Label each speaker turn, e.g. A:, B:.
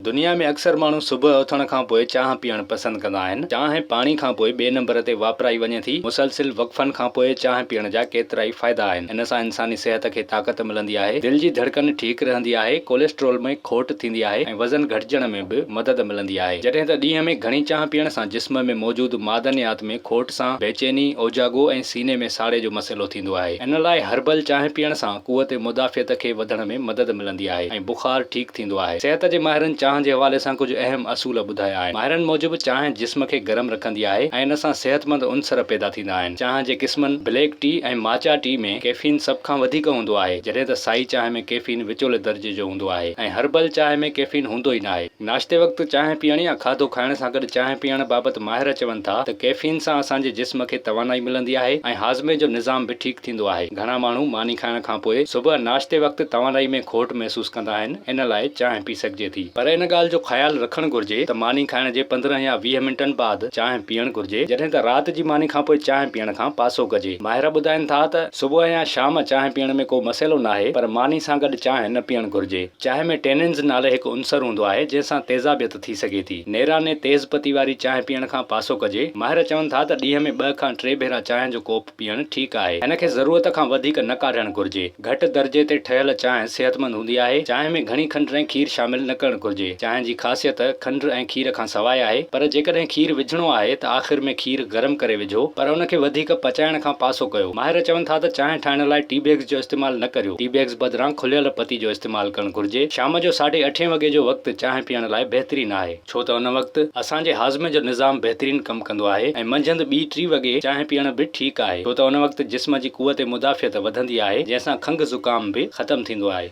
A: دنيا ۾ اڪثر ماڻهو صبح اٿڻ کان پوء چانهه پيئڻ پسند ڪندا آهن. چانهه پاڻي کان پوء ٻئي نمبر تي واپرائي وڃي ٿي. مسلسل وقفن کان پوء چانهه پيئڻ جا ڪيترائي فائدا آهن. ان سان انساني صحت کي طاقت ملندي آهي. دل جي ڌڙڪن ٺيڪ رهندي آهي. ڪوليسٽرول ۾ کوٽ ٿيندي آهي ۽ وزن گهٽجڻ ۾ به مدد ملندي آهي. جڏهن ته ڏينهن ۾ گهڻي چانهه پيئڻ سان جسم ۾ موجود معدنيات ۾ کوٽ سان بيچيني، اوجاڳو ۽ سيني ۾ ساڙي جو مسئلو ٿيندو آهي. ان لاء هربل چانهه پيئڻ سان قوت مدافعت کي وڌڻ ۾ مدد ملندي آهي ۽ بخار ٺيڪ ايندو آهي. صحت جي ماهرن چانهه جي حوالي سان ڪجهه اهم اصول ٻڌايا آهن. ماهرن موجب چانهه جسم کي گرم رکندي آهي ۽ ان سان صحتمند عنصر پيدا ٿيندا آهن. چانهه جي قسمن بليڪ ٽي ۽ ماچا ٽي ۾ ڪيفين سڀ کان وڌيڪ هوندو آهي جڏهن ته سائي چانهه ۾ ڪيفين وچولي درجي جو هوندو آهي ۽ هربل چانهه ۾ ڪيفين هوندو ئي ناهي. ناشتي وقت چانهه پيئڻ يا کاڌو کائڻ سان گڏ چانهه پيئڻ بابت ماهر چون ٿا ته ڪيفين سان اسان جي جسم کي توانائي ملندي آهي ۽ هاضمي جو نظام به ٺيڪ ٿيندو آهي. گهڻا ماڻهو ماني کائڻ کان پوء صبح ناشتي وقت توانائي ۾ کوٽ محسوس ڪندا آهن ان لاء چانهه پي سگهجي ٿي پر ان ڳالهه جو خيال رکڻ گهرجي ته ماني کائڻ جي پندرهن يا ويهه منٽن بعد چانهه پيئڻ گهرجي جڏهن ته رات جي ماني کان پوء چانهه پيئڻ کان پاسو ڪجي. ماهر ٻڌائين ٿا ته صبح يا شام چانهه پيئڻ ۾ ڪو مسئلو ناهي پر ماني سان گڏ چانهه نه پيئڻ گهرجي. چانهه ۾ ٽيننز نالي هڪ عنصر هوندو آهي جنهن سان تيزابيت ٿي سگهي ٿي. نيراني تيز پتي واري چانهه پيئڻ کان پاسو ڪجي. ماهر چون ٿا ته ڏينهن ۾ ٻه کان ٽي ڀيرا چانهه جو ڪوپ. پيئڻ ٺيڪ آهي. هن کي ضرورت کان وڌيڪ نه ڪاڍڻ گهرجي. گهٽ درجي تي ٺهيل چانهه صحتمند هوندي آهي. چانهه ۾ گهڻي کنڊ ۽ کير شامل نه ڪرڻ گهرجي. چانهه جي خاصيت کنڊ ۽ کير کان سواء آهي. پر جيڪڏهن کير وجهڻو آهي ته آخر ۾ کير گرم ڪري وجهو. پر ان کي وڌيڪ پچائڻ کان پاسو ڪيو. ماهر چون ٿا ته چانهه ٺاهڻ لاء ٽي بيگز جو استعمال نه ڪريو. ٽي بيگز بدران کليل پتي جو استعمال ڪرڻ گهرجي. شام جو ساڍي اٺين وڳي جو وقت چانهه پيئڻ لاء بهترين آهي. ڇو ته ان وقت اسان جي هاضمي جو نظام بهترين ڪم ڪندو آهي ۽ منجهند ٻي ٽي وڳي چانهه پيئڻ به ٺيڪ آهي ڇو ته ان وقت جسم جي قوت مدافعت وڌندي آهي جنهن سان کنگهه زڪام به ختم ٿيندو آهي.